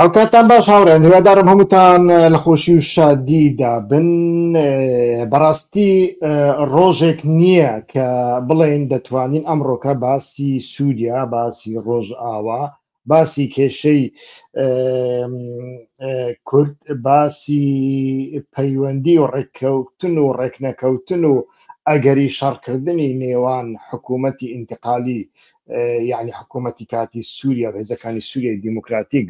هاوکاتان باش هاوڕێن هیوادارم هەمووتان لە خۆشی و شادیدا بن بەڕاستی ڕۆژێک نییە کە بڵێن دەتوانین ئەمڕۆکە باسی سووریا باسی ڕۆژ ئاوا باسی کێشەی کورد باسی پەیوەندی و ڕێککەوتن و ڕێکنەکەوتن و ئەگەری شەڕکردنی نێوان حکوومەتی ئینتقالی یعنی حکوومەتی کاتی سووریا و هێزەکانی سووریای دیموکراتیک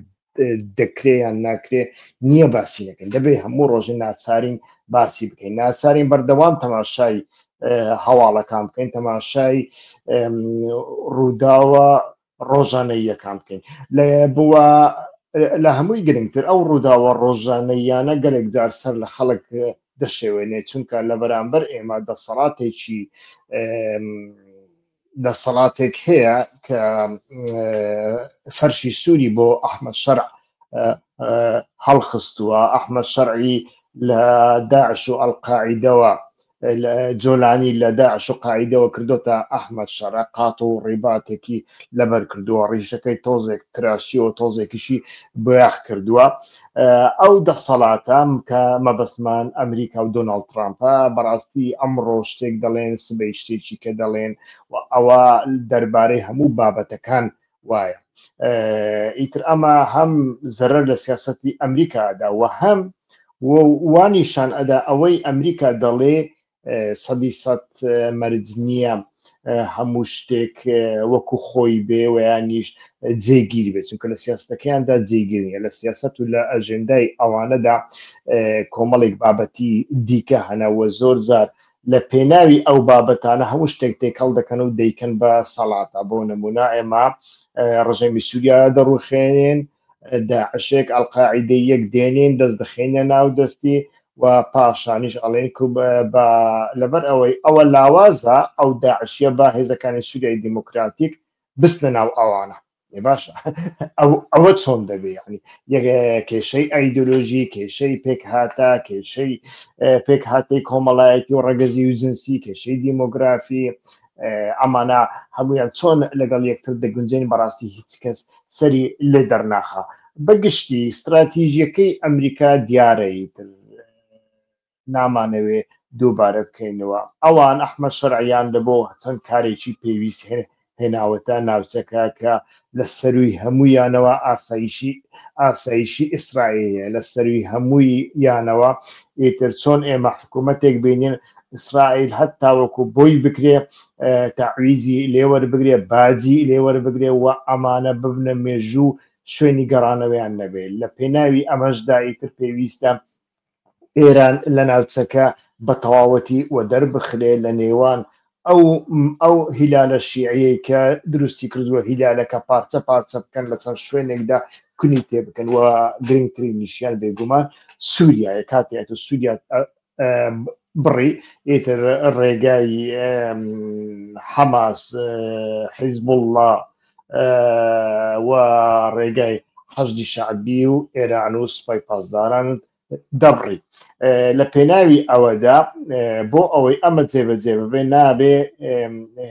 دەکرێیان ناکرێ نییە باسی نەکەن دەبێ هەموو ڕۆژە ناچارین باسی بکەین ناچارین بەردەوام تەماشای هەواڵەکان بکەین تەماشای ڕووداوە ڕۆژانەیەکان بکەین لە بووە لە هەمووی گرنگتر ئەو ڕووداوە ڕۆژانەیانە گەلێک جار سەر لە خەڵک دەشێوێنێ چونکە لە بەرامبەر ئێمە دەسەڵاتێکی دەسەڵاتێک هەیە کە فەرشی سووری بۆ ئەحمد شەرع هەڵخستووە ئەحمد شەرعی لە داعش و ئەلقاعیدەوە جۆلانی لە داعش و قاعدەوە کردوتە ئەحمد شەڕ قات و ڕیباتێکی لەبەر کردووە ڕیشەکەی تۆزێک تراشی و تۆزێکیشی بۆیاخ کردووە ئەو دەسەڵاتەم کە مەبەستمان ئەمریکا و دۆناڵد ترامپە بەڕاستی ئەمڕۆ شتێک دەڵێن سبەی شتێکی کە دەڵێن و ئەوە دەربارەی هەموو بابەتەکان وایە ئیتر ئەمە هەم زەرەر لە سیاستی ئەمریکادا و هەم وانیشان ئەدا ئەوەی ئەمریکا دەڵێ سەدی سەد مەرج نییە هەموو شتێک وەکو خۆی بێ ویانیش جێگیر بێت چونکە لە سیاستەکەیاندا جێگیرنیە لە سیاست و لە ئەژێندای ئەوانەدا کۆمەڵێک بابەتی دیکە هەنەوە زۆر زار لە پێناوی ئەو بابەتانە هەموو شتێک تێکەڵ دەکەن و دەیکەن بە سەڵاتە بۆ نمونا ئێمە ڕژێمی سووریا دەڕوخێنێن داعشێک ئەلقاعیدەییەک دێنین دەست دەخەینە ناو دەستی و پاشانیش ئەڵێن لەبەر ئەوەی ئەوە لاوازە ئەو داعشیە با هێزەکانی سووریای دیموکراتیک بستنە ناو ئەوانە باشە ئەوە چۆن دەبێ ینی کێشەی ئایدۆلۆژی کێشەی پێکهاتە کێشەی پێکهاتی کۆمەڵایەتی و ڕەگەزی و جنسی کێشەی دیمۆگرافی ئەمانە هەمویان چۆن لەگەڵ یەکتر دەگونجێن بەڕاستی هیچ کەس سەری لێ دەرناخا بەگشتی ستراتیژیەکەی ئەمریکا دیارە ئیتر نامانەوێ دووبارە بکەینەوە ئەوان ئەحمە شەرعیان لە بۆ چەند کارێکی پێویست هێناوەتە ناوچەکە کە لە سەرووی هەموویانەوە ئاسایشی ئاسایشی ئیسرائیلە لە سەرووی هەمووی یانەوە ئیتر چۆن ئێمە حکوومەتێک بینین ئیسرائیل هەت تاوەکو بۆی بکرێ تاویزی لێوەر بگرێ باجی لێوەر بگرێ و ئەمانە ببنە مێژوو شوێنی گەڕانەوەیان نەبێت لە پێناوی ئەمەشدا ئیتر پێویستە ئێران لە ناوچەکە بە تەواوەتی وەدەر بخرێ لە نێوان ئەو ئەو هیلالە شیعەی کە دروستی کردووە هیلالەکە پارچە پارچە بکەن لە چەند شوێنێکدا کونی تێ بکەن و گرنگترین نیشیان بێگومان سووریایە کاتێت و سووریا بڕی ئیتر ڕێگای حەماس حیزبوڵڵا و ڕێگای حەشدی شعبی و ئێران و سوپای پاسداران دەبڕی لە پێناوی ئەوەدا بۆ ئەوەی ئەمە جێبەجێ ببێ نابێ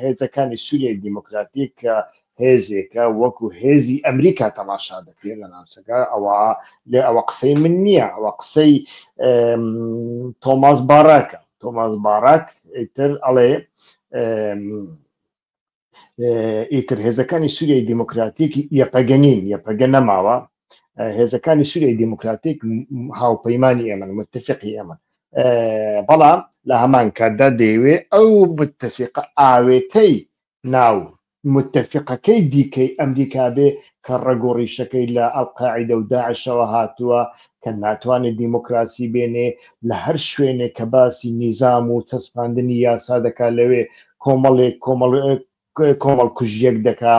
هێزەکانی سووریای دیموکراتیک کە هێزێکە وەکو هێزی ئەمریکا تەماشا دەکرێت لە ناوچەکە ئەوە لێ ئەوە قسەی من نییە ئەوە قسەی تۆماس باراکە تۆماس باراک تر ئەڵێ ئیتر هێزەکانی سووریای دیموکراتیک یەپەگەنین یەپەگە نەماوە هێزەکانی سووریای دیموکراتیک هاوپەیمانانی ئێمە متفقی ئێمە بەڵام لە هەمان کاتدا دەیەوێ ئەو متفقە ئاوێتەی ناو متفقەکەی دیکەی ئەمریکا بێ کە ڕگۆڕیشەکەی لە ئەلقاعدە و داعشەوە هاتووە کە ناتوانێ دیموکراسی بێنێ، لە هەر شوێنێک کە باسی نیزام و چەسپاندنی یاسا دەکا لەوێ کۆمەڵێک کۆمەڵ کۆمەڵکوژیەک دەکا،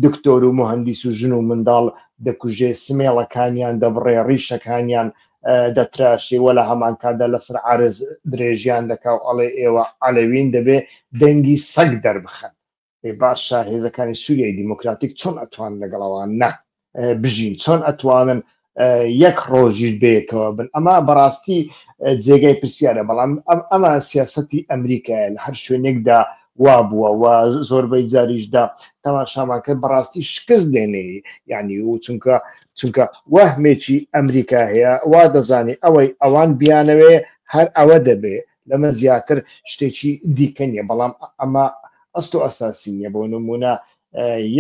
دکتۆر و موهەندیس و ژن و منداڵ دەکوژێ، سمێڵەکانیان دەبڕێ، ڕیشەکانیان دەتراشێ و لە هەمانکاتدا لەسەر عەرز درێژیان دەکا و ئەڵێ ئێوە عەلەوین دەبێ دەنگی سەگ دەربخەن. ئێ باشە هێزەکانی سووریای دیموکراتیک چۆن ئەتوان لەگەڵ ئەوان نا بژین چۆن ئەتوانن یەک ڕۆژیش بێکەوە بن ئەمە بەڕاستی جێگای پرسیارە بەڵام ئەم ئەمە سیاستی ئەمریکایە لە هەر شوێنێکدا وا بووە و زۆربەی جاریشدا تەماشامان کرد بەڕاستی شکست دێنێ ینی و چونکە چونکە وەهمێکی ئەمریکا هەیە وا دەزانی ئەوەی ئەوان بیانەوێ هەر ئەوە دەبێ لەمە زیاتر شتێکی دیکە نیە بەڵام ئەمە ئەست و ئەساسی نیە بۆ نمونە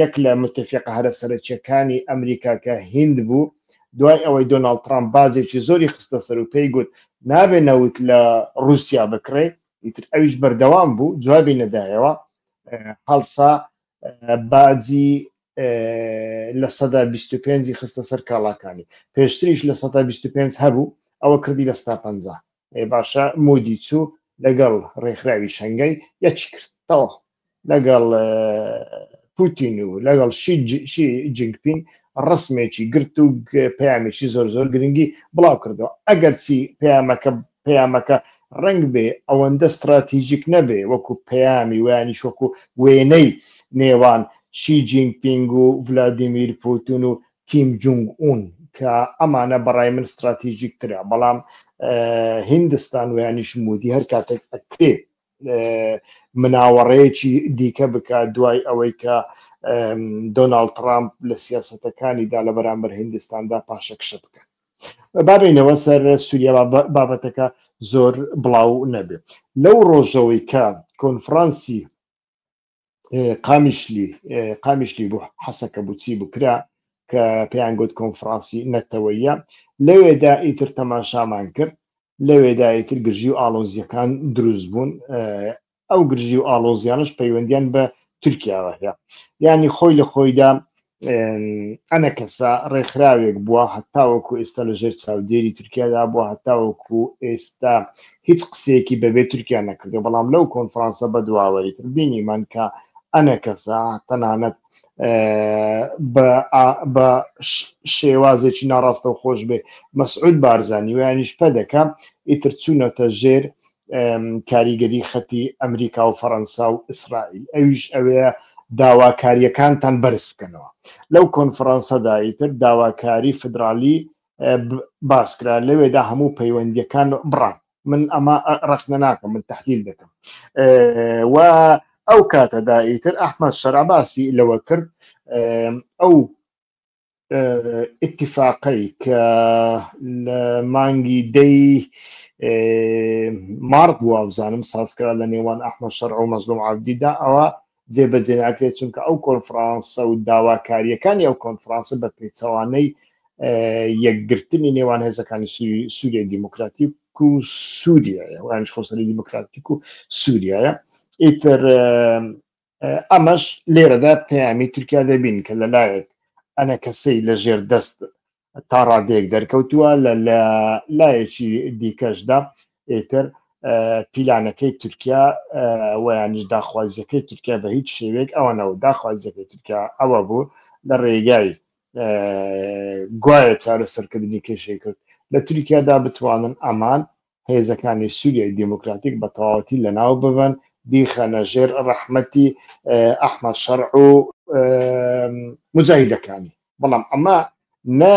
یەک لە متفقە هەرە سەرەکیەکانی ئەمریکا کە هند بوو دوای ئەوەی دۆناڵد ترامپ بازێکی زۆری خستە سەر و پێی گوت نابێ نەوت لە رووسیا بکڕێ ئیتر ئەویش بەردەوام بوو جوابی نەدایەوە هەڵسا باجی لە سەدا 25 خستە سەر کاڵاکانی پێشتریش لە سەدا 25 هەبوو ئەوە کردی لە ستا پ ئەی باشە مودی چوو لەگەڵ ڕێکخراوی شەنگەی یەکی کردەوە لەگەڵ پوتین و لەگەڵ شی جنگپین ڕسمێکی گرت و پەیامێکی زۆر زۆر گرنگی بڵاو کردەوە ئەگەر چی پەیامەکە پەیامەکە ڕنگ بێ ئەوەندە استراتیژیک نەبێ وەکو پەیامی ویانی شوەکو وێنەی نێوان شی جینگپینگ و ولادیمیر پوتون و کیم جونگ ئون کە ئەمانە بەڕای من ستراتیژیک ترە بەڵام هیندستان ویانیش مودی هەر کاتێک ئەکرێ مناوەڕەیەکی دیکە بکات دوای ئەوەی کە دۆناالد ترامپ لە سیاستەکانیدا لە بەرامبەر هندستاندا پاشەکشە بکەن بابینەوە سەر سووریا بابەتەکە زۆر بڵاو نەبێت لەو ڕۆژەوەی کە کۆنفرانسی قامیشلی قامیشلی بوو حەسەکە بوو چی بوو کرا کە پێیان گوت کۆنفرانسی نەتەوەیە لەوێدا ئیتر تەماشامان کرد لەوێدا ئیتر گرژی و ئالۆزیەکان دروست بوون ئەو گرژی و ئالۆزیانش پەیوەندیان بە تورکیاوە هەیە ینی خۆی لە خۆیدا ئەنەکەسە ڕێکخراوێک بووە هەتاوەکو ئێستا لە ژێر چاودێری تورکیادا بووە هەتاوەکو ئێستا هیچ قسەیەکی بەبێ تورکیا نەکردو بەڵام لەو کۆنفرانسە بەدواوەی تر بینیمان کە ئەنەکەسە تەنانەت بە شێوازێکی ناڕاستە و خۆش بێ مەسعود بارزانانی ویانیش پەدەکە ئیتر چوونەتە ژێر کاریگەری خەتی ئەمریکا و فەەنسا و ئیسرائیل ئەویش ئەوەیە داواکاریەکانتان بەرز بکەنەوە لەو کۆنفرانسەدا ئیتر داواکاری فدرالی باسکرا لەوێدا هەموو پەیوەندیەکان بڕان من ئەمە ڕخنە ناکەم من تحلیل دەکەم و ئەو کاتەدا ئیتر ئەحمد شەراباسی لەوە کرد ئەو ئتیفاقەی کە لە مانگی دەی مارد بووە بزانم سازکرا لە نێوان ئەحمە شەرع و مەزلوم عبدیدا ئەوە جێبەجێ ناکرێت چونکە ئەو کۆنفرانسە و داواکاریەکانی ئەو کۆنفرانسە بە پێچەوانەی یەکگرتنی نێوان هێزەکانی سووریای دیموکراتیک و سووریایە وانش خۆسەری دیموکراتیک و سووریایە ئیتر ئەمەش لێرەدا پەیامی تورکیا دەبین کە لەلایەک ئەنە کەسەی لە ژێر دەست تا ڕادەیەک دەرکەوتووە لە لایەکی دیکەشدا ئێتر پیلانەکەی تورکیا ویانش داخوازیەکەی تورکیا بە هیچ شێوێک ئەوە نەوە داخوازیەکەی تورکیا ئەوە بوو لە ڕێگای گوایە چارەسەرکردنی کێشەی کرد لە تورکیادا بتوانن ئەمان هێزەکانی سووریای دیموکراتیک بە تەواوەتی لەناو ببەن بیخەنە ژێر ڕەحمەتی ئەحمەد شەڕع و مجاهیدەکانی بەڵام ئەمە نە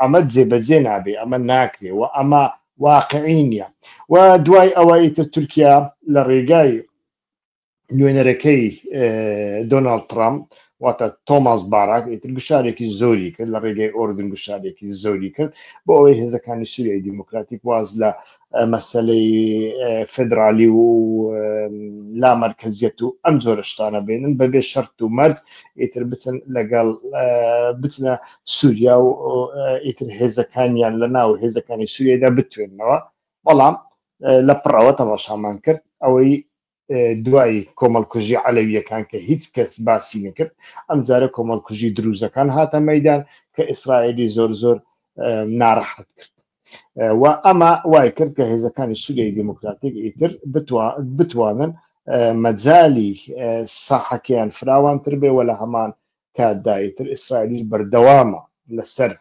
ئەمە جێبەجێ نابێ ئەمە ناکرێ و ئەمە واقعی نییە و دوای ئەوەی تر تورکیا لە ڕێگای نوێنەرەکەی دۆناالد ترامپ واتە تۆماس باراک ئیتر گوشارێکی زۆری کرد لە ڕێگەی ئۆردن گوشارێکی زۆری کرد بۆ ئەوەی هێزەکانی سووریای دیموکراتیک واز لە مەسلەی فدرالی و لا مرکزیەت و ئەم جۆرە شتانە بێنن بەبێ شەرت و مرد ئیتر بچن لەگەڵ بچنە سووریا و ئیتر هێزەکانیان لە ناو هێزەکانی سووریدا بتوێنەوە بەڵام لە پڕەوە تەماشامان کرد ئەوەی دوای کۆمەڵکوژی عەلەویەکان کە هیچ کەس باسی نەکرد ئەمجارە کۆمەڵکوژی دروزەکان هاتە مەدان کە ئیسرائیلی زۆر زۆر ناڕەحەت کرد و ئەمە وای کرد کە هێزەکانی سووریای دموکراتیک ئیتر بتوانن مەجای ساحەکەیان فراوانتر بێ وە لە هەمان کاتدایتر ئیسرائیلیش بەردەوامە لەسەر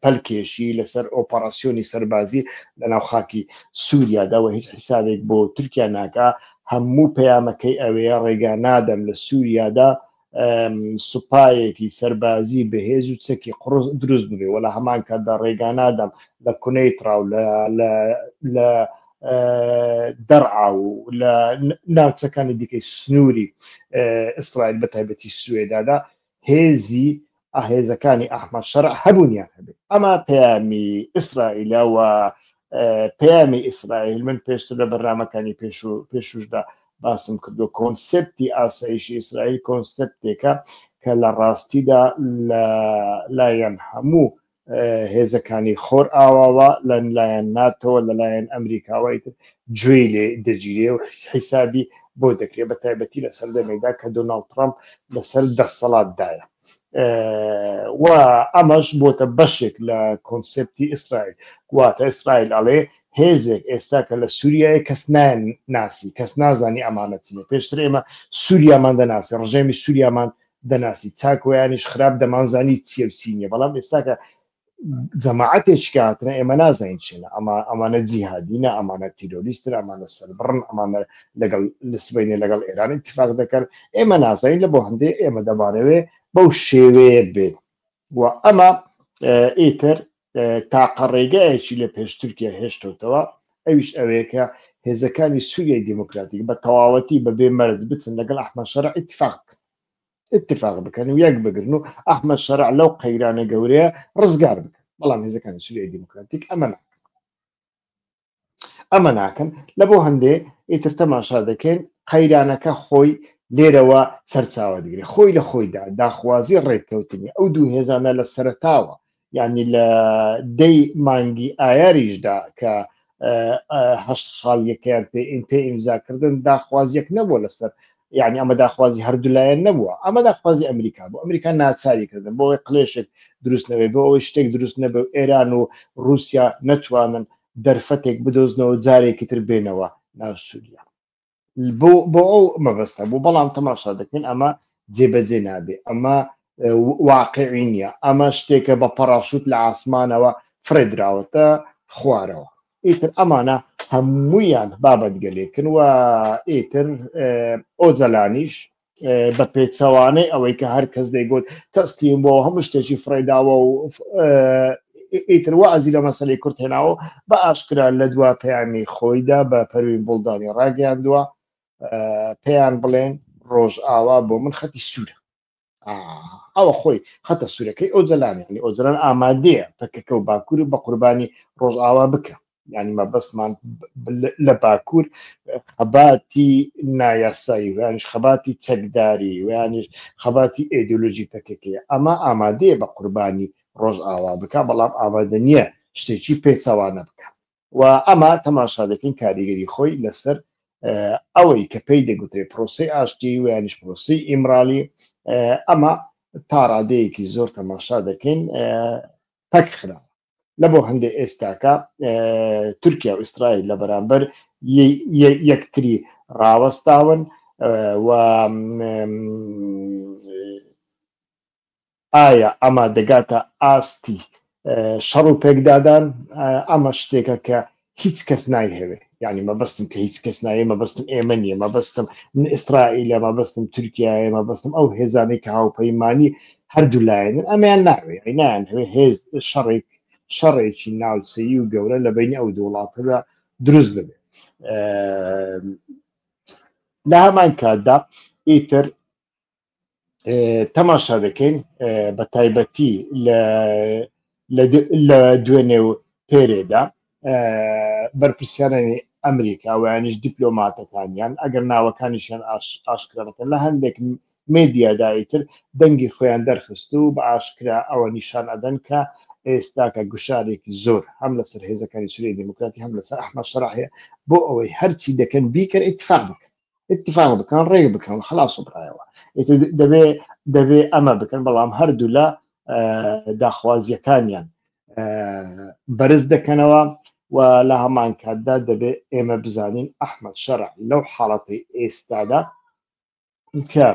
پەلکێشی لەسەر ئۆپەراسیۆنی سەربازی لەناو خاکی سووریادا و هیچ حیسابێک بۆ تورکیا ناکە هەموو پەیامەکەی ئەوەیە ڕێگا نادەم لە سووریادا سوپایەکی سەربازی بەهێز و چەکی قڕز دروست ببێ وە لە هەمان کاتدا ڕێگا نادەم لە کونەی تراو لە دەرعا و لە ناوچەکانی دیکەی سنووری ئیسرائیل بە تایبەتی سوێدادا هێزی هێزەکانی ئەحمەد شەرع هەبوونیان هەبێت ئەما پەیامی ئیسرائیلە و پەیامی ئیسرائیل من پێشتر لە بەرنمەکانی پێش و پێشوشدا باسم کردو کۆنسپتی ئاسایشی ئیسرائیل کۆنسپتێکە کە لە ڕاستیدا لە لایەن هەموو هێزەکانی خۆرئاواوە لە لایەن ناتۆوە لە لایەن ئەمریکاوەی تر گوێی لێ دەگیرێ و حیسابی بۆ دەکرێت بە تایبەتی لە سەردەمێکدا کە دۆناڵد ترامپ لەسەر دەسەڵاتدایە و ئەمەش بۆتە بەشێک لە کۆنسپتی ئیسرائیل گواتە ئیسرائیل ئەڵێ هێزێک ئێستا کە لە سووریای کەس نایەن ناسی کەس نازانی ئەمانەتینە پێشتر ئێمە سووریامان دەناسی ڕژێمی سووریامان دەناسی چاکۆیانیش خراپ دەمانزانی چیە و چی نیە بەڵام ئێستاکە جەماعەتێکی هاتنە ئێمە نازانین چێنە ئەما ئەمانە جیهادینە ئەمانە تیرۆریستر ئەمانە سەربڕن ئەمانە لەگەڵ لە سبینێ لەگەڵ ئێران اتفاق دەکەن ئێمە نازانین لە بۆ هەندێ ئێمە دەمانەوێ بەو شێوەیە بێت و ئەمە ئیتر تاقە ڕێگایەکی لە پێش تورکیا هێشتۆتەوە ئەویش ئەوەیە کە هێزەکانی سووریای دیموکراتیک بە تەواوەتی بە بێ مەرز بچن لەگەڵ ئەحمە شەرع اتفاق بکەن اتفاق بکەن و یەک بگرن و ئەحمە شەرع لەو قەیرانە گەورەیە ڕزگار بکەن بەڵام هێزەکانی سووریای دیموکراتیک ئەمە ئەمە ناکەن لە بۆ هەندێ ئیتر تەماشا دەکەین قەیرانەکە خۆی لێرەوە سەرچاوە دەگرێت خۆی لە خۆیدا داخوازی ڕێککەوتنی ئەو دوو هێزانە لە سەرتاوە یعنی لە دەی مانگی ئایاریشدا کە هەشت ساڵیەکەیان پێ پێ ئیمزاکردن داخوازیەک نەبوو لەسەر یعنی ئەمە داخوازی هەردوولایەن نەبووە ئەمە داخوازی ئەمریکا بۆ ئەمریکا ناچاری کردن بۆ ئەوەی قلێشێک دروستنەوەی بۆ ئەوەی شتێک دروست نەبێ و ئێران و رووسیا نەتوانن دەرفەتێک بدۆزنەوە جارێکی تر بێنەوە ناو سووریا بۆ ئەو مەبەستە بوو بەڵام تەماشا دەکەین ئەمە جێبەجێ نابێ ئەمە واقعی نییە ئەمە شتێکە بە پەڕاشوت لە ئاسمانەوە فرێدراوەتە خوارەوە ئیتر ئەمانە هەموویان بابەتگەلێکن و ئیتر ئۆجەلانیش بە پێچەوانەی ئەوەی کە هەر کەس دەیگوت تەستیم بۆ هەموو شتێکی فڕێداوە و ئیتر وازی لە مەسلەی کورت هێناوە بە ئاشکرا لە دوا پەیامی خۆیدا بە پەروین بوڵدانی ڕاگەیاندووە پێیان بڵێن ڕۆژ ئاوا بۆ من خەتی سوورە ئەوە خۆی خەتە سوورەکەی ئەو جەلانیانی ئەو جەلان ئامادەیە پەکەکە و باکوور و بە قوربانی ڕۆژئاوا بکە ینی مەبەستمان لە باکوور خەباتی نایاسایی ویانش خەباتی چەکداری ویانش خەباتی ئێدولۆژی پەکەکەیە ئەمە ئامادەیە بە قوربانی ڕۆژئاوا بک بەڵام ئامادە نییە شتێکی پێچوانە بکە و ئەمە تەماشا دەکەین کاریگەری خۆی لەسەر ئەوەی کە پێی دەگوترێت پرۆسی ئاشتی ویانش پرۆسی ئیمرالی ئەمە تا ڕادەیەکی زۆر تەماشا دەکەین پەک خرا لە بۆ هەندێک ئێستاکە تورکیا و ئیسرائیل لە بەرامبەر یەکتری ڕاوەستاون و ئایا ئەمە دەگاتە ئاستی شەڕ و پێکدادان ئەمە شتێکە کە هیچ کەس نایهەوێ یعنی مەبەستم کە هیچ کەس نایە مەبەستم ئێمە نیە مەبەستم من ئیسرائیلە مەبەستم تورکایە مەبەستم ئەو هێزانەی کە هاوپەیمانی هەردوو لایەنن ئەمیان ناوێ ئەینان هەوێ هێز شەڕێک شەڕێکی ناوچەیی و گەورە لە بینی ئەو دوو وڵاتەدا دروست ببێ لە هەمان کاتدا ئیتر تەماشا دەکەین بە تایبەتی لە دوێنێ و پێرێدا بەرپرسیارانی ئەمریکا ویانیش دیپلۆماتەکانیان ئەگەر ناوەکانیشیان ئاشکرانەکەن لە هەندێک مێدیادایتر دەنگی خۆیان دەرخست و بە ئاشکرا ئەوە نیشان ئەدەن کە ئێستاکە گوشارێکی زۆر هەم لەسەر هێزەکانی سوری دموکراتی هەم لەسەر ئەحمە شراحەیە بۆ ئەوەی هەرچی دەکەن بیکەن اتفاق بکەن اتفاق بکەن ڕێک بکەن خلاص و برایەوە دەبێ دەبێ ئەمە بکەن بەڵام هەردوو لە داخوازیەکانیان بەرز دەکەنەوە و لە هەمان کاتدا دەبێ ئێمە بزانین ئەحمد شەرع لەو حاڵەتی ئێستادا کە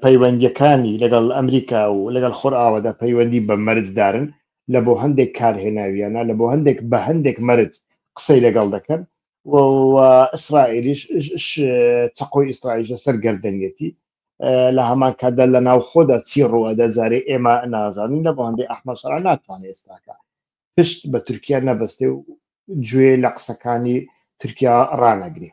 پەیوەندیەکانی لەگەڵ ئەمریکا و لەگەڵ خۆرئاوەدا پەیوەندی بە مەرجدارن لە بۆ هەندێک کار هێناویانە لە بۆ هەندێک بە هەندێک مەرج قسەی لەگەڵ دەکەن و ئیسرائیلیش چقۆی ئیسرائیل لەسەر گردنیەتی لە هەمان کاتدا لە ناو خۆدا چی ڕوەدا جارێ ئێمە نازانین لە بۆ هەندێک ئەحمە سەرا ناتوانێت ئێستاکە پشت بە تورکیا نەبەستێ و گوێ لە قسەکانی تورکیا ڕانەگرێ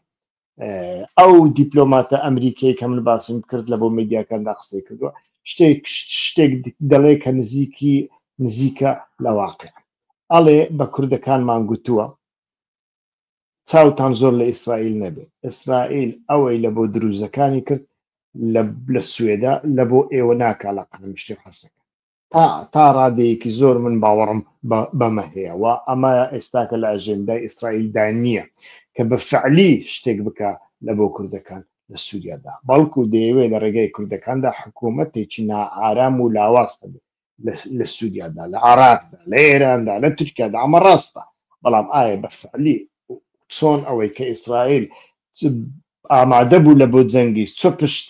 ئەو دیپلۆماتە ئەمریکای کە من باسم کرد لە بۆ میدیاکاندا قسەی کردووە شتێک شتێک دەڵێ کە نزیکی نزیکە لە واقع ئەڵێ بە کوردەکانمان گوتووە چاوتان زۆر لە ئیسرائیل نەبێت ئیسرائیل ئەوەی لە بۆ دروزەکانی کرد لە سوێدا لە بۆ ئێوە ناکە لە قەنم شتێ حەسەکە تا تا ڕادەیەکی زۆر من باوەڕم بەمە هەیە و ئەمە ئێستاکە لە ئەژێندای ئیسرائیلدا نییە کە بە فعلی شتێک بکە لە بۆ کوردەکان لە سووریادا بەڵکو دەیەوێت لە ڕێگای کوردەکاندا حکوومەتێکی نائارام و لاواز هەبێت لە سووریادا لە عراقدا لە ئێراندا لە تورکیادا ئەمە ڕاستە بەڵام ئایا بە فعلی چۆن ئەوەی کە ئیسرائیل ئامادە بوو لە بۆ جەنگی چۆ پشت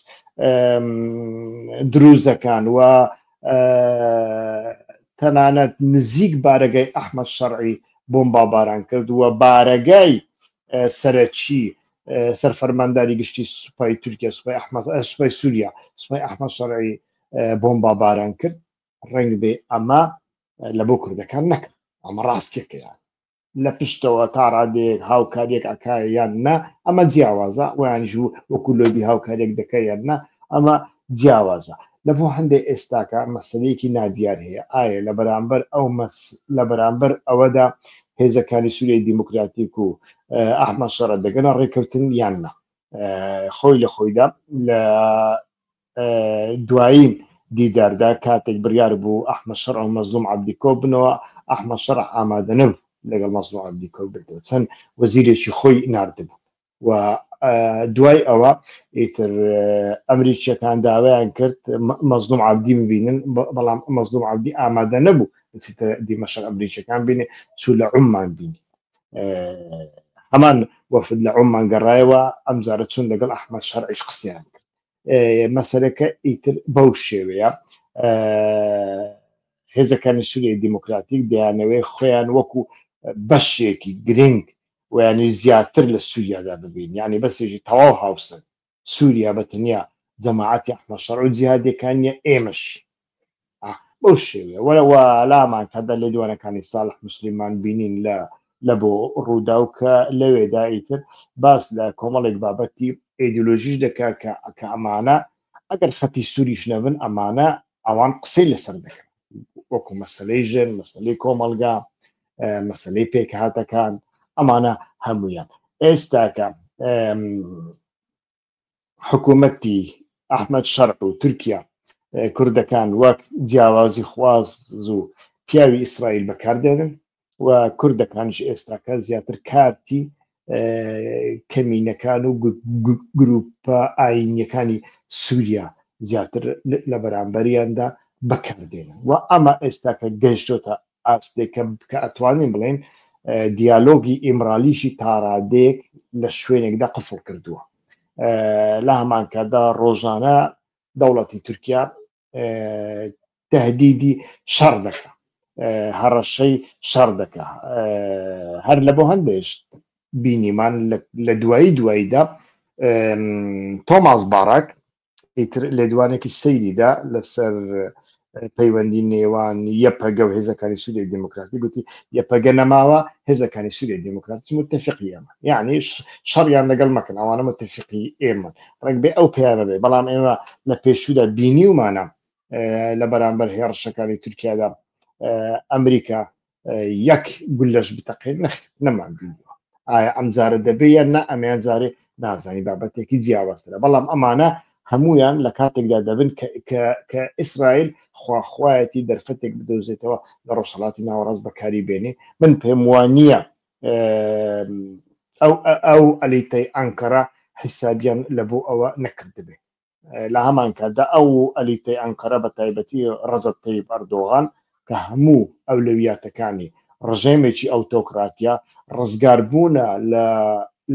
دروزەکان و تەنانەت نزیک بارەگای ئەحمد شەڕعی بۆمبا باران کرد و بارەگای سەرەکی سەرفەرمانداری گشتی سوپای تورکیا سوپای ئەحمد سوپای سووریا سوپای ئەحمد شەڕعی بۆمبا باران کرد ڕنگ بێ ئەمە لە بۆ کوردەکان نەکرد ئەمە ڕاستێکەیان لە پشتەوە تا ڕادێک هاوکاریەک ئەکا یان نا ئەمە جیاوازە ویان ژوو وەکو لۆبی هاوکاریەک دەکە یان نا ئەمە جیاوازە لە بۆ هەندێک ئێستاکە مەسلەیەکی نادیار هەیە ئایا لە بەرامبەر ئەو مەس لە بەرامبەر ئەوەدا هێزەکانی سووریای دیموکراتیک و ئەحمە شەڕە دەگەنە ڕێککەوتن یان نا خۆی لە خۆیدا لە دوایین دیداردا کاتێک بڕیار بوو ئەحمەد شەرع و مەزلوم عەبدی کۆببنەوە، ئەحمەد شەرع ئامادە نەبوو لەگەڵ مەزلوم عەبدی کۆببێتەوە، چەند وەزیرێکی خۆی ناردبوو و دوای ئەوە ئیتر ئەمریکییەکان داوایان کرد مەزلوم عەبدی ببینن، بەڵام مەزلوم عەبدی ئامادە نەبوو بچیتە دیمەشق ئەمریکییەکان بینێ، چوو لە عوممان بینی. هەمان وەفد لە عوممان گەڕایەوە، ئەمجارە چوون لەگەڵ ئەحمەد شەرعیش قسەیان کرد. مەسەلەکە ئیتر بەو شێوەیە هێزەکانی سووریای دیموکراتیک دەیانەوەی خۆیان وەکو بەشێکی گرنگ ویانی زیاتر لە سووریادا ببین یعنی بەسێژی تەواو هاوسن سووریا بە تەنیا جەماعاتی ئەحمە شەڕ و جیهادەکانە ئێمەش بەو شێوێ وەرەوە لامان کەدا لێ دوانەکانی ساڵح مسللیمان بینین لە لە بۆ ڕوودا و کە لەوێدا ئیتر باس لە کۆمەڵێک بابەتی ئیدولۆژیش دەکا کە ئەکە ئەمانە ئەگەر خەتی سووریش نەبن ئەمانە ئەوان قسەی لەسەر دەکەن وەکو مەسلەی ژن مەسلەی کۆمەلگا مەسلەی پێکهاتەکان ئەمانە هەمویان ئێستاکە حکوومەتی ئەحمد شەرع و تورکیا کوردەکان وەک جیاوازی خواز و پیاوی ئیسرائیل بەکاردێنن و کوردەکانش ئێستاکە زیاتر کارتی کەمینەکان و گروپە ئاینیەکانی سووریا زیاتر لە بەرامبەریاندا بەکاردێنن و ئەمە ئێستاکە گەشتۆتە ئاستێک کە کە ئەتوانین بڵێین دیالۆگی ئیمرالیشی تاڕادێک لە شوێنێکدا قفڵ کردووە لە هەمانکەدا ڕۆژانە دەوڵەتی تورکیا تهدیدی شەڕ دەکە هەڕەشەی شەڕ دەکە هەر لە بۆ هەندێش بینیمان لە دوایی دواییدا تۆماس باراک ئیتر لێدوانێکی سەیریدا لەسەر پەیوەندی نێوان یەپەگە و هێزەکانی سووری دموکراتی گوتی یەپەگە نەماوە هێزەکانی سووری دموکراتی متتەفقی ئێمە یعنی شەڕیان لەگەڵ مەکەن ئەوانە متتەفقی ئێمە ڕێک بێ ئەو پیاە بێ بەڵام ئێمە لە پێشودا بینیومانە لە بەرامبەر هێڕشەکانی تورکیادا ئەمریکا یەک گولەش بتەقێت نەخ نەمان بینیوە ئایا ئەم جارە دەبێ یان نا ئەمیان جارێ نازانی بابەتێکی جیاوازترە بەڵام ئەمانە هەمویان لە کاتێکدا دەبن کە ئیسرائیل خواخوایەتی دەرفەتێک بدۆزێتەوە لە ڕۆژهڵاتی ناوەڕاست بەکاری بێنێ من پێم وانە ئەو ئەو ئەلیتەی ئەنکەرە حیسابیان لە بۆ ئەوە نەکردبێ لە هەمان کاتدا ئەو ئەلیتەی ئەنقەرە بە تایبەتی ڕەزەب تەیب ئەردۆغان کە هەموو ئەولەویاتەکانی ڕژێمێکی ئەوتۆکراتیە ڕزگاربوونە لە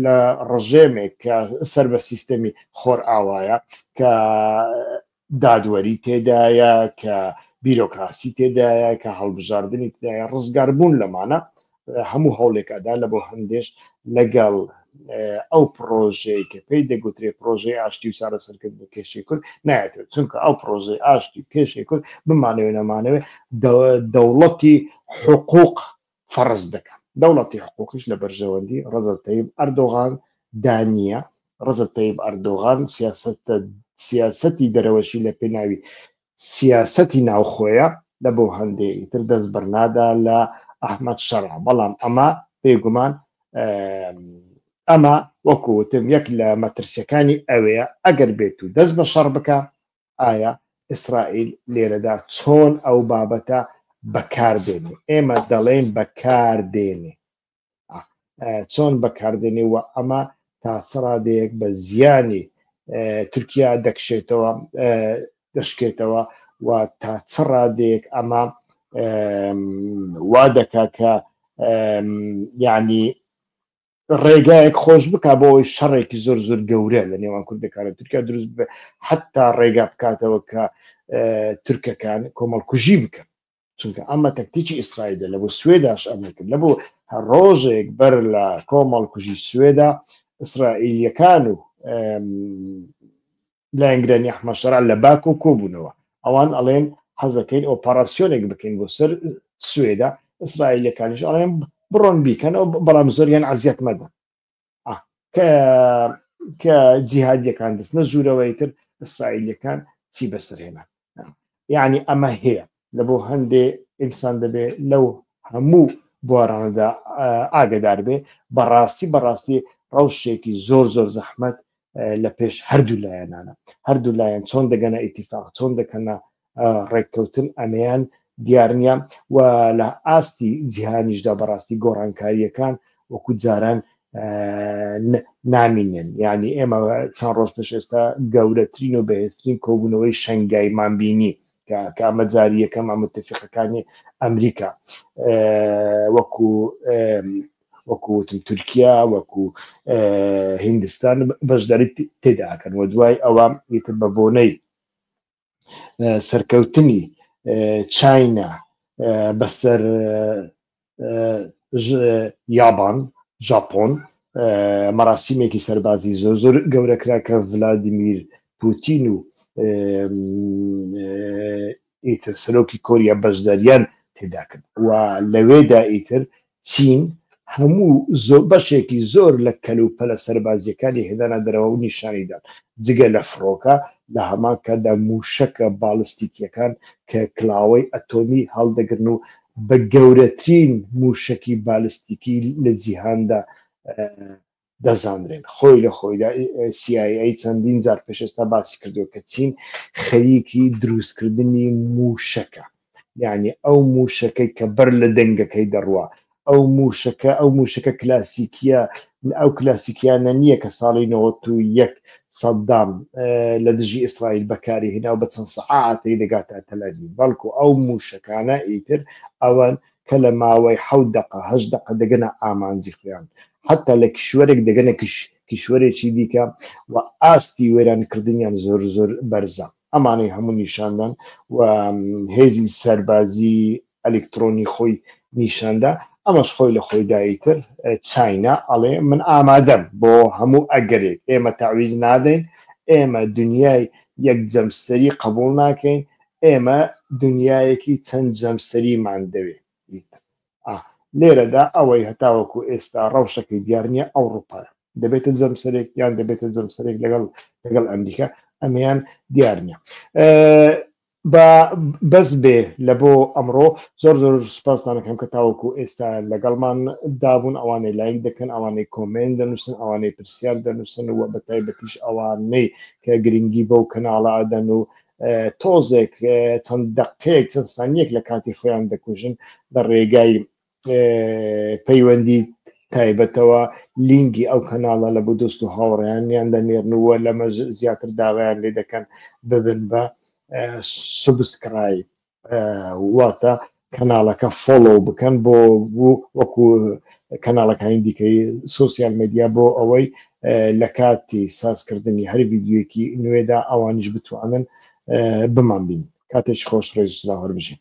لە ڕژێمێک کە سەر بە سیستەمی خۆر ئاوایە کە دادوەری تێدایە کە بیرۆکراسی تێدایە کە هەڵبژاردننی تدایە ڕزگاربوون لەمانە هەموو هەوڵێک ئەدا لە بۆ هەندێش لەگەڵ ئەو پرۆژەیە کە پێی دەگوترێ پرۆژەی ئاشتی و چارەسەرکرد بە کێشی کورد نایەتێت چونکە ئەو پرۆژەی ئاشتی و کێشی کورد بمانەوێ نەمانەوێ دەوڵەتی حقوق فەرز دەکەن دەوڵەتی حقوقیش لە بەرژەوەندی ڕزەتەیب ئەردۆغان دانیە ڕزەتەیب ئەردۆغان سیاست سیاستی دەرەوەشی لە پێناوی سیاسەتی ناوخۆیە لە بۆ هەندێ ئیتر دەست بەرنادا لە ئەحمەد شەرع بەڵام ئەمە بێ گومان ئەمە وەکو وتم یەک لە مەترسیەکانی ئەوەیە ئەگەر بێت و دەست بە شەڕ بکە ئایا ئیسرائیل لێرەدا چۆن ئەو بابەتە بەکاردێنێ ئێمە دەڵێن بەکاردێنێ چۆن بەکاردێنێ و ئەمە تا سەرادەیەک بە زیانی تورکیا دەکشێتەوە دەشکێتەوە و تا چ ڕادێک ئەمە وا دەکا کە یعنی ڕێگایەک خۆش بک بۆ ئەوی شەڕێکی زۆر زۆر گەورە لە نێوان کوردەکانە تورکیا دروست بێ حتا ڕێگا بکاتەوە کە تورکەکان کۆمەڵکوژی بکەن چونکە ئەمە تەکتیکی ئیسرائیلە لە بۆ سوێداش ئەمە کرد لە بۆ هەر ڕۆژێک بەر لە کۆمەڵکوژی سوێدا ئیسرائیلیەکان و لایەنگرانی ئەحمە شەرع لە باک و کۆبوونەوە ئەوان ئەڵێن حەزەکەین ئۆپەراسیۆنێک بکەین بۆ سەر سوێدا ئیسرائیلەکانیش ئەڵێن بڕۆن بیکەن و بەڵام زۆریان عزیەت مەدە کە کە جیهادیەکان دەستنە ژوورەوەی تر ئیسرائیلەکان چی بەسەر هێنا یعنی ئەمە هەیە لە بۆ هەندێ ئینسان دەبێ لەو هەموو بۆراندا ئاگدار بێ بەڕاستی بەڕاستی ڕەوشێکی زۆر زۆر زەحمت لە پێش هەردوو لایەنانە هەردوو لایەن چۆن دەگەنە ئیتیفاق چۆن دەکەنە ڕێککەوتن ئەمەیان دیارنیە و لە ئاستی جیهانیشدا بەڕاستی گۆڕانکاریەکان وەکو جاران نامینێن یعنی ئێمە چەند ڕۆژ پێش ئێستا گەورەترین و بەهێزترین کۆبوونەوەی شنگایمان بینی کە ئەمە جاری یەکەم ئەمە تفقەکانی ئەمریکا وەکو وەکو وتم تورکیا وەکو هندستان بەشداری تێدا ئەکەن و دوای ئەوە ئیتر بە بۆنەی سەرکەوتنی چاینا بەسەر یابان ژاپۆن مەراسیمێکی سەربازی زۆر زۆر گەورەکرا کە ڤلادیمیر پوتین و ئیتر سەرۆکی کۆریا بەشداریان تێدا کرد و لەوێدا ئیتر چین هەموو زۆر بەشێکی زۆر لە کەلوپەلە سەربازیەکانی هێنانە دەرەوە و نیشانیدان جگە لە فڕۆکە لە هەمان کاتدا موشەکە باڵستیکیەکان کە کلاوەی ئەتۆمی هەڵدەگرن و بە گەورەترین موشەکی بالستیکی لە جیهاندا دەزانرێن خۆی لە خۆیدا CIA چەندین جار پێش ئێستا باسی کردو کە چین خەریکی دروستکردنی موشەکە یعنی ئەو موشەکەی کە بەر لە دەنگەکەی دەڕوا ئەو موشەکە ئەو موشەکە کلاسیکیە ئەو کلاسیکیانە نییە کە ساڵی 1970 سەددام لە دژی ئیسرائیل بەکاری هێنا و بە چەند سەعاتەی دەگاتە تەلەوی بەڵکو ئەو موشەکانە ئیتر ئەوەن کە لە ماوەی حەوت دەقە هەشت دەقە دەگەنە ئامانجی خۆیان حەتا لە کیشوەرێک دەگەنە کیشوەرێکی دیکە و ئاستی وێرانکردنیان زۆر زۆر بەرزە ئەمانەی هەموو نیشاندان و هێزی سەربازی ئەلکترۆنی خۆی نیشاندا ئەمەش خۆی لە خۆیدایی تر چاینا ئەڵێ من ئامادەم بۆ هەموو ئەگەرێک ئێمە تاویز نادەین ئێمە دنیای یەک جەمسەری قبول ناکەین ئێمە دنیایەکی چەند جەمسەریمان دەوێت لێرەدا ئەوەی هەتاوەکو ئێستا ڕەوشەکەی دیار نییە ئەوروپایە دەبێتە جەمسەرێک یان دەبێتە جەمسەرێک لەگەڵ لەگەڵ ئەمریکا ئەمیان دیار نییە بە بەس بێ لە بۆ ئەمڕۆ زۆر زۆر سپاستانەکەم کە تاوەکو ئێستا لەگەڵمان دابوون ئەوانەی لایک دەکەن ئەوانەی کۆمێن دەنووسن ئەوانەی پرسیار دەنووسن و بە تایبەتیش ئەوانەی کە گرنگی بەو کەناڵە ئەدەن و تۆزێک چەند دەقەیەک چەند سانیەک لە کاتی خۆیان دەکوژن لە ڕێگای پەیوەندی تایبەتەوە لینگی ئەو کەناڵە لە بۆ دۆست و هاوڕیانیان دەنێرنەوە لەمە زیاتر داوایان لێ دەکەن ببن بە سوبسکرایب واتە کەناڵەکە فۆڵۆ بکەن بۆ وەکو کەناڵەکانی دیکەی سوسیال مدیا بۆ ئەوەی لە کاتی سازکردنی هەر ویددیوەکی نوێدا ئەوانیش بتوانن بمان بین کاتێک خۆش ڕێزسلااو هەربژین